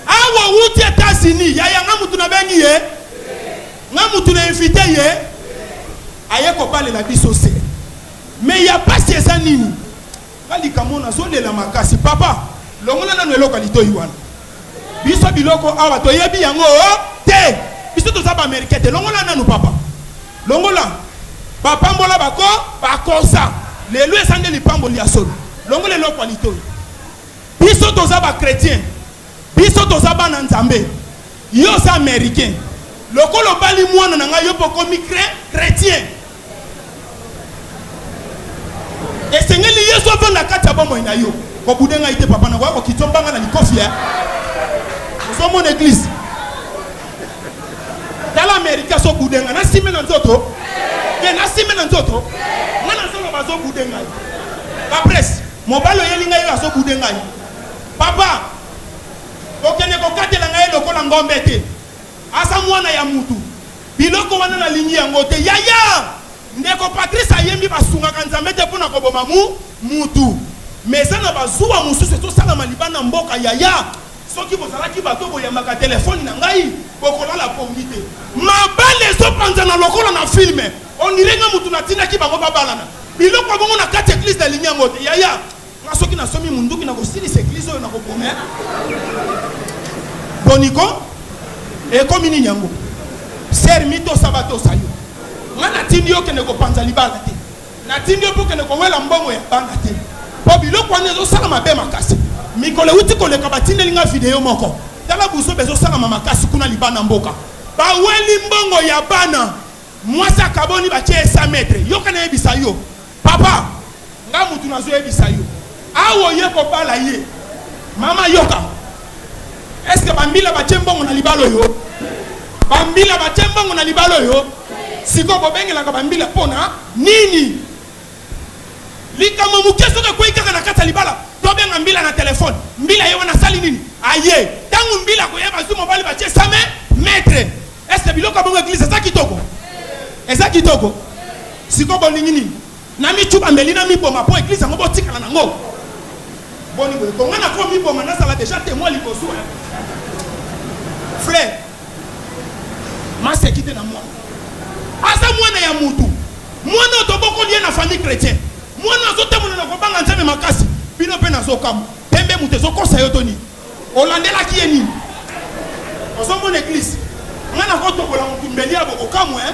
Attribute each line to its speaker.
Speaker 1: Awa wuti Etats Unis yaya nga mutu na bengi ye nga mutu na invite ye aye kobalela biso se me ya pasi eza nini nga likambo nazolela makasi papa longola nano eloko ya litoyi wana biso biloko awa toyebi yango oh, te biso toza baamerikain te longola nanu papa longola bapambola bako bakosa lelo eza nde lipamboli ya solo longola eloko ya litoyi Biso toza ba chretiens biso toza bana nzambe yo oza americain lokola obali mwana na ngai yo mpe okomi chretien esengeli yesu avanda kati ya bomoi na yo kobude ngai te papa nakoya kokiti ombanga na likofi ya ozomona eglise tala amerika azobude ngai nasime na nzoto te nasime na nzoto ngai nazoloba azobude ngai baprese Mobali oyeli ngai oyo azo boude ngai papa okende kokatela ngai lokola ngombe te aza mwana ya mutu biloko wana nalingi yango te yaya ndeko patrice ayembi basungaka nzambe te mpo na koboma mu mutu me eza na bazuwa mosusu ezosalama libanda mboka yaya soki bozalaki bato boyambaka telefoni na ngai bokolala pongi te mabale ezopanzana lokola na filme On dirait nga mutu na tinaki bango ba balana. Biloko bongo na kati eglise na lingi yango te. Yaya, nga soki na somi munduki na kosilisa eglise oyo na koboma. Boniko, ekomi nini yango? Sœur Mito Sabato sayo. Nga na tindi yo kende kopanza libala te. Na tindi yo po kende kowela mbongo ya bana te. Po biloko wana ezo sala mabe makasi. Mikolo uti koleka batindeli nga video moko. Tala buso bezo sala makasi kuna libana mboka. Baweli mbongo ya bana. Mwasi akaboni batie ye 100 mètres yoka na yebisa yo papa nga mutu nazo yebisa yo awa oye kobala ye mama yoka est ce que ba mbila batie mbongo na libala oyo ba mbila batie mbongo na libala oyo sikoyo bobengelaka ba mbila pona nini Likambo moke soki ekwei kaka na kati ya libala, tobenga mbila na telephone, mbila ye wana asali nini? Aye. Tango mbila akoya bazui mobali batie sa me maitre. Est ce que biloko ya bongo eglise eza kitoko? Eza kitoko? Sikoyo bolingi nini? Na mi chuba mbeli na mi boma po eglise yango botikala na ngo? Boni boye ko nga nako mi boma nazala deja temoin liboso eh. Frère. maseki te na mwana aza mwana ya mutu mwana oyo tobokoli ye na famille chrétien mwana azotambola na kobanga nzambe makasi bino mpe nazokamwa pembe moto ezokosa yo to nini olandelaki ye nini ozomona eglise ngai nakotobola motumbeli ya bokokamwe eh?